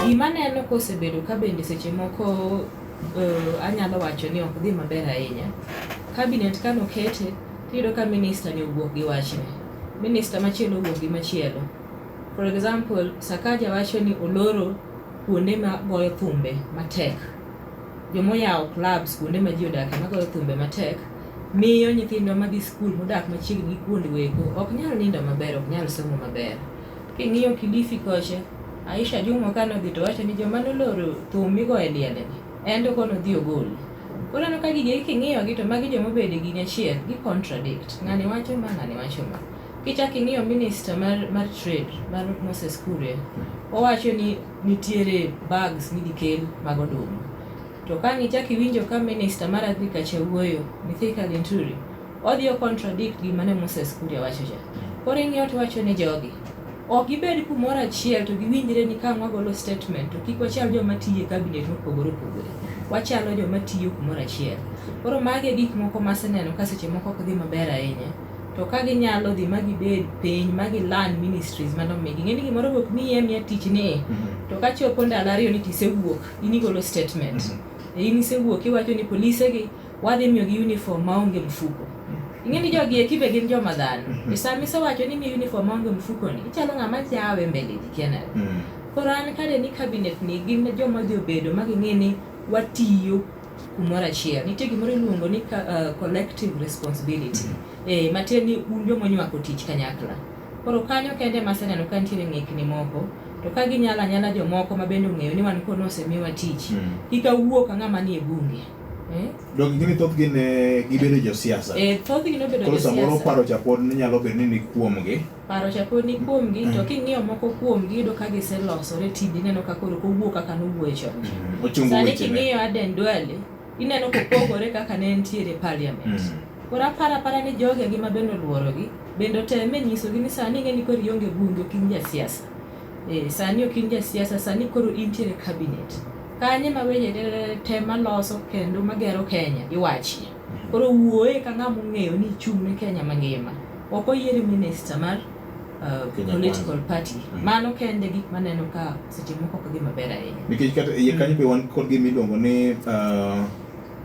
Gima neno kosebedo ka bende seche moko uh, anyalo wacho ni ok dhi maber ahinya. Kabinet kano kete, tiyudo ka minista ni owuok gi wachne. Minista machielo owuok gi machielo. For example, Sakaja wacho ni oloro kuonde ma goyo thumbe matek. Joma oyawo clubs kuonde ma ji odakie magoyo thumbe matek miyo nyithindwa madhi skul modak machiegni gi kuondgo eko ok nyal nindo maber, ok nyal somo maber. King'iyo Kilifi kocha, Aisha Jumwa kane odhi to wacho ni joma noloro thum migoyo e liende en to koro nodhi ogol. Koro aneno ka gigi king'iyogi to magi joma obedo e gini achiel, gi contradict. Ng'ani wacho ma, ng'ani wacho ma. Kichako ing'iyo minister mar trade mar Moses Kuria, owacho ni nitiere bags midhi kel mag oduma. To ka nichak iwinjo ka minister mar agriculture wuoyo, Mithika Linturi, odhi o contradict gima ne Moses Kuria wacho cha. Koro ing'iyo to wacho ni jogi ok gibed kumoro achiel to giwinjre ni ka wagolo statement to kik wachal joma tiyo e cabinet mopogore opogore. Wachalo joma tiyo kumoro achiel. Koro magi e gik moko maseneno ka seche moko ok dhi maber ahinya. to ka ginyalo dhi ma gibed piny ma gi learn ministries mane omigi. Ing'e ni gimoro be ok miyi amiya tich ni e. To ka chopo ndalo ariyo ni to isewuok, in igolo statement. E in isewuok iwacho ni polise gi wadhi miyo gi uniform ma onge mfuko. Ing'e ni jogi eki be gin joma dhano. E sama isewacho ni imiyo uniform ma onge mfuko ni, ichalo ng'ama jawe mbele ji kia nade. Koro an kade ni cabinet ni gin joma odhi obedo ma ging'e ni watiyo. kumoro achiel. Nitie gimoro iluongo ni uh, collective responsibility. Mm-hmm. Eh, matiende ni un joma onywako tich kanyakla. Koro kanyo kende ma aseneno ka nitiere ng'ikni moko to ka ginyala nyala jomoko ma bende ong'eyo ni wan kono osemiwa tich. Mm. Kik awuo ka ng'ama nie bunge. Eh? Dok gini thoth gin eh, gibedo josiasa. Eh, thoth gino bedo josiasa. Koro samoro paro cha pod nyalo bedo ni ni kuomgi. paro chako ni kuomgi to king'iyo moko kuomgi yudo ka giselosore tindi ineno ka koro kowuok kaka nowuoye chon mm. Ochungo sani wechene. king'iyo Aden Duale ineno kopogore kaka ne entiere parliament Mm. koro aparo apara ni jogi agi ma bende oluorogi bende oteme nyisogi ni sani ing'e ni koro ionge bunge ok in jasiasa Eh, sani ok in jasiasa sani koro intiere cabinet kanye ma weche te- te maloso kendo magero kenya iwachie Koro wuoye ka ng'ama ong'eyo ni ichung' ne Kenya mangima. Ok oyieri minista mar uh, Kenya political Kwanza. party. Mm. Mano kende gik maneno ka seche moko ok gima ber ahinya. Nikech kata iye kanyo be wan kod gima iluongo ni uh,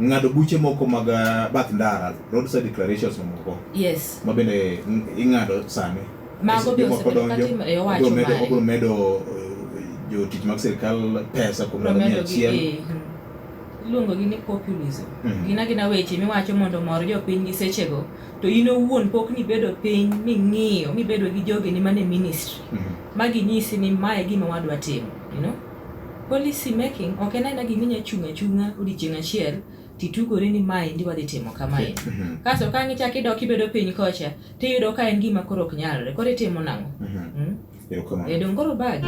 ng'ado buche moko mag uh, bath ndara, roadside declarations mamoko. Yes. Ma bende ng- ing'ado sani. Mago be Jomoko osebedo donjo, katimo e owacho obiro medo- mare. obiro medo uh, jotich mag sirikal pesa kuom ndalo mia Promedo gi- achiel. eh, mm. iluongogi ni populism mm. gina gina weche miwacho mondo mor jopiny gi sechego to in owuon pok nibedo piny ming'iyo mibedo gi jogeni mane ministry mm. ma ginyisi ni mae gima wadwa timo you know? policy making ok en aena gima inya chung' achung'a odiechieng' achiel titugori ni mae ndi wadhi timo kamae mm -hmm. kasto ka ngichak idok ibedo piny kocha tiyudo ka en gima koro ok nyalre koro itimo nang'o mm -hmm. mm? edongoro bagi